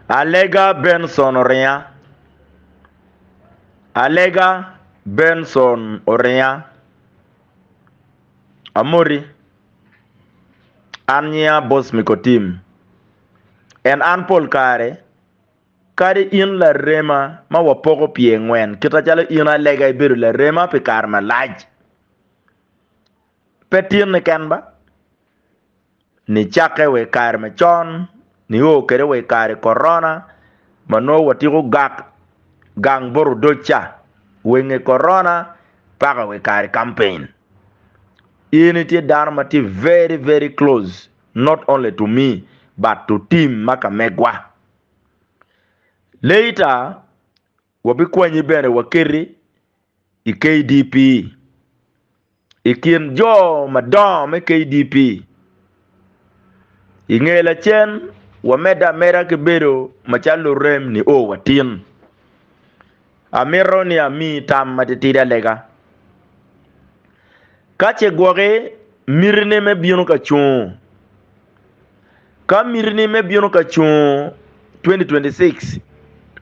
Alega Benson oringa Alega Benson oringa Amoti An nyinga Bosmiko Tim En an pol kare Kadi in larema ma wapoko pye ngwen Kita calo in Alega ibedo larema pi kare malac Pe tinni ken ba Nicakke wa i kare macon nio kwede wa i kare Korona ma nongo watyeko gak gang bot odoc ca, wa i nge Korona paka wa i kare campaign. In itye dano ma tye very very close not only to me but to team ma kamegwa. Later Wabikwanyi bene waketi i KDP. I kin jo madongo me KDP, i nge lacen wamedde ameda ki bedo macalo lurem nio watin. Amito ni amiyi tam matitidi alega. Ka ce gwoki mitine me bino ka cungo, Ka mitini me bino ka cung 2026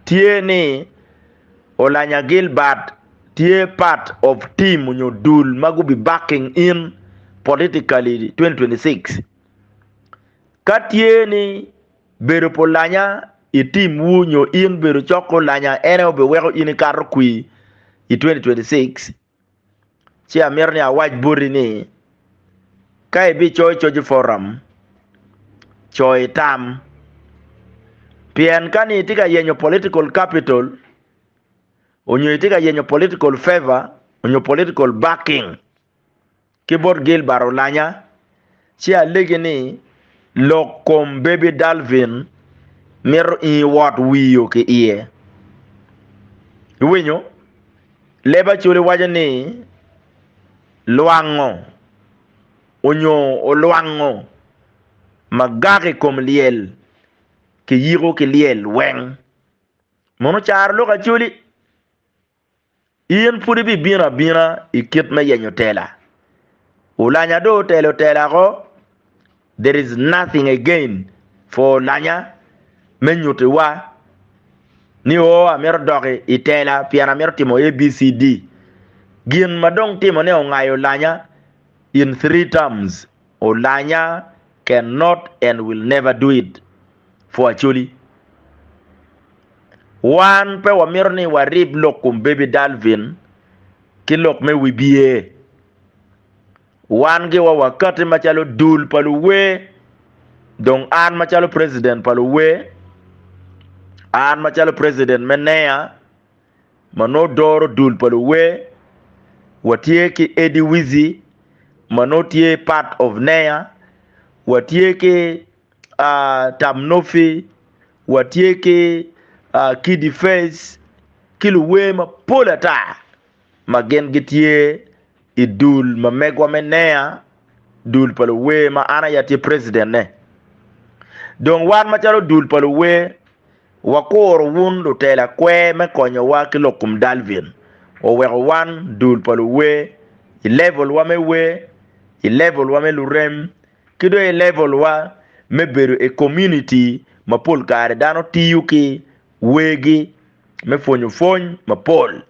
tye ni Olanya Gilbert tye part of team nyo dul ma gubi backing in politically 2026. Ka tye ni bedo pa Olanya i team wu nyo in bedo cok ki Olanya ene obi weko in ikato kwi i 2026. Ci amito ni awac boti ni ka ibicoyo coc i foram coyo itam pien ka ni itye ka yenyo political capital onyo itye ka yenyo political favor onyo political backing ki bot Gilbert Olanya, ci alegi ni lok kom Baby Dalvin mito ingi wot wiyo ki iye. Iwinyo? Leb Acholi waco ni lwango onyo olwango magaka i kom lyel ki yiko ki lyel weng. Mono caro lok Acholi? In pud ibibino abina i kit me yenyo tela. Olanya do otelo tela ko. There is nothing again for Olanya me nyutiwa ni o oh, amito dok i tela pien amito timo ABCD. Gin ma dong timone ongayo Olanya in three terms. Olanya can not and will never do it for Acholi. Wan pe wamito ni warib lok kom Baby Dalvin ki lok me wibye. Wan giwa wakati macalo dul pa luwer, dong an macalo president pa luwer, an macalo president me NEA, ma nongo doro dul pa luwer, watye ki Eddie Wizzy ma nongo tye part of NEA, watye ki Tam Nophy, watye ki Kiddy Face ki luwer mapol ata ma gin gitye i dul ma megwa me NEA, dul pa luwer ma an aye atye precident-ne. Dong wan macalo dul pa luwer, wakuro wun lutela kwer me konyowa ki lok kom Dalvin. Waweko wan dul pa luwer i level wa me wer, i level wa me lurem, ki dong i level wa me bedo i community ma pol kare dano tiyo ki wergi me pwonyo pwony mapol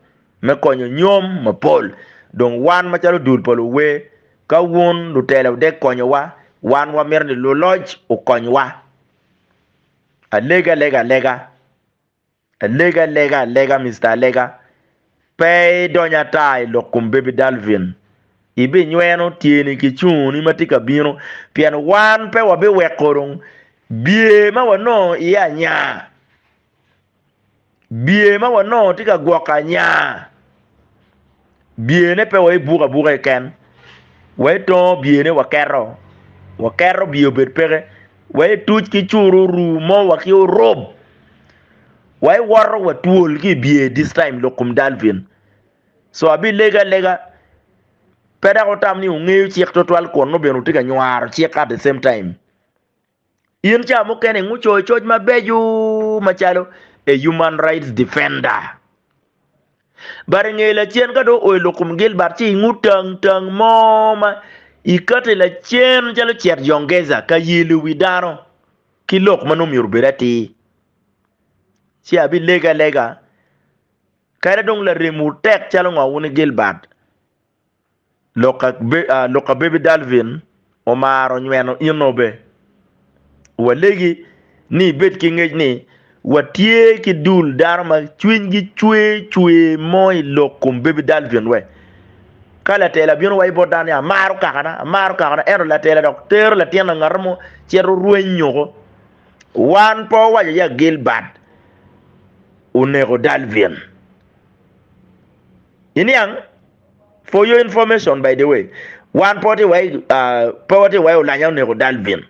me konyo nyom mapol. Dong wan macalo dul pa luwer, ka wun lutela wudek konyowa, wan wamito ni luloc okonywa. Alega alega alega. Alega alega alega Mister Alega. Pe idony ata i lok kom Baby Dalvin. Ibinyweno tyeni ki cunguni ma tye ka bino pien wan pe wabiweko dong bye ma wanongo iye anya. bye ma wanongo tye ka gwoko anya, byene pe wai buko abuka keken, wai tongo byene waketo, waketo bye obed peke, wai tuc ki curu ru mo wa ki orub, wai woto wa twol ki bye this time lok kom dalvin, so abilego alega pe dok wutam ni wungeyo cik twatwal kun nongo bene wutye ka nywaro cik at the same time. In ca mukene ingu coyo coc mabeco macalo a human rights defender. But inge lacen ka dong oelo kum Gilbert ci ingu tang tang mo ma ikate lacen calo cet Jongeza ka yelo wi dano ki lok ma nongo myero obed atir. Ci abi lege alega kadi dong laremwu tek calo ngo wun i Gilbert Lok ka Baby Dalvin omaro nyweno in obe. Walegi ni ibed ki ngec ni watye ki dul dano ma cwinygi cwe cwe mo i lok kom Baby Dalvin wek ka latela bino waco bot dano ni amaro kakana, amaro kakana ento latela dok tero latin angata mo cito rweny oko. Wan pe wawaco ya Gilbert oneko Dalvin. Iniang, for your information by the way, wan pe watye iwaci pe watye iwaci olanya oneko Dalvin,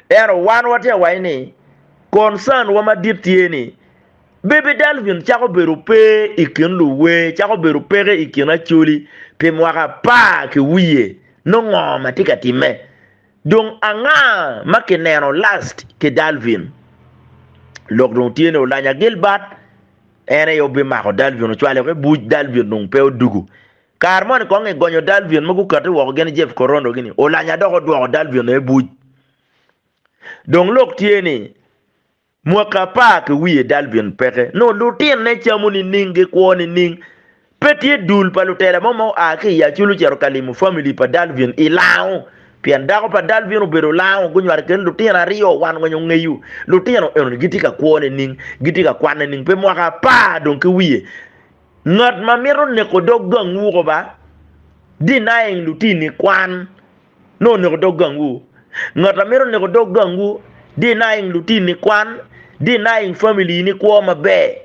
ento wan watye iwaci ni concern wa madit tye ni Baby Dalvin cako bedo pe i kin luwer, cako bedo peke i kin Acholi pi mwaka apar ki wiye, nongo ma tye ka timme? Dong anga ma kineno last ki Dalvin? Lok dong tye ni olanya Gilbert. En aye obimako Dalvin ocwalo ki buc Dalvin dong pe odugu. Kare moni kong gigonyo Dalvin ma gukate woko gin Jeff Korondo gini Olanya dok odwoko Dalvin aye buc. Dong lok tye ni mwaki apar ki wiye Dalvin peke nongo lutinne camo nining gikwo nining Pe tye dul pa lutela mo ma oa ki i Acholi ocito ka limo famili pa Dalvin i Lango. Pien dako pa Dalvin obedo Lango, gunywalo kene lutino aryo. Wan weng ongeyo lutino eno-ni gitye ka kwo nining, gitye ka kwan nining. Pe mwaka apar dong ki wiye. Ngat ma mito neko dog gangwu koba, denying lutini kwan nongo oneko dog gangwu. Ngat ma mito neko dog gangwu, denying lutini kwan, denying famili-ni kwo maber.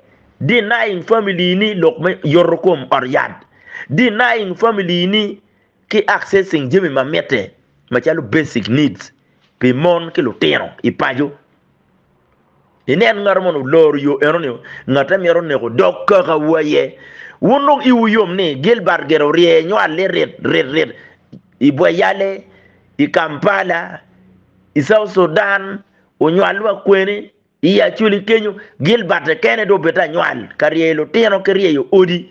Denying family ni lok me yoto kom ot yat. Denying family ni ki accessing jami ma mitte macalo basic needs pi mon ki lutino i paco. Inen ngato mono oloro yo eno ni ngatte mito neko dog kaka wu aye. Wun dong iwu yom ni Gilbert gire orye nywale rit rit rit i Bweyale, i Kampala, i South Sudan, onywal wa kweni. I Acoli kenyo, Gilbert kekene dong obedo anywal ka ryeyo lutino ki ryeyo odi.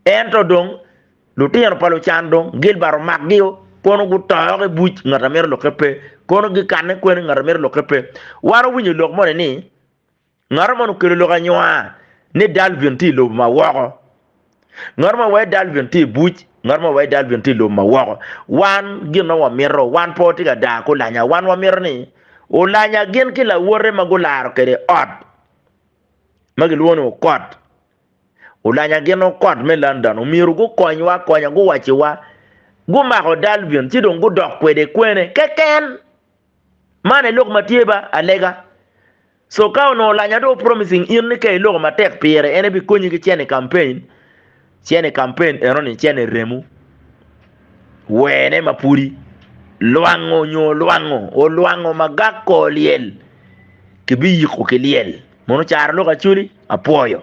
Ento dong, lutino pa lucan dong Gilbert omakgio, kono gutoko i buc, ngat a mito lokke pe, kono gikanne kwene, ngat a mito lokke pe. Wan wawinyo lok moni ni, Ngato moni okelo lok anywa ni Dalvin tye i lobo ma woko. Ngat ma wai Dalvin tye i buc, ngat ma wai Dalvin tye i lum ma woko. Wan gin ma wamito, wan pe watye ka daa ki olanya. Wan wamito ni olanya gin ki lawote ma gularo kwede ot ma kilwongo ni okot. Olanya gin okot me London omyero gukonywa akonya, guwacciwa gumako Dalvin ci dong gudok kwede kwene keken. Man aye lok ma tye ba alega. So ka onongo lanya dong promising in ni ka iloko matek pire en ebikonyi ki cene campaign, cene campaign enoni cene remo. Wene ma pudi lwango nyo olwango, olwango magak ko olyel kibiyiko ki lyel. Mono caro lok acoli, apwoyo.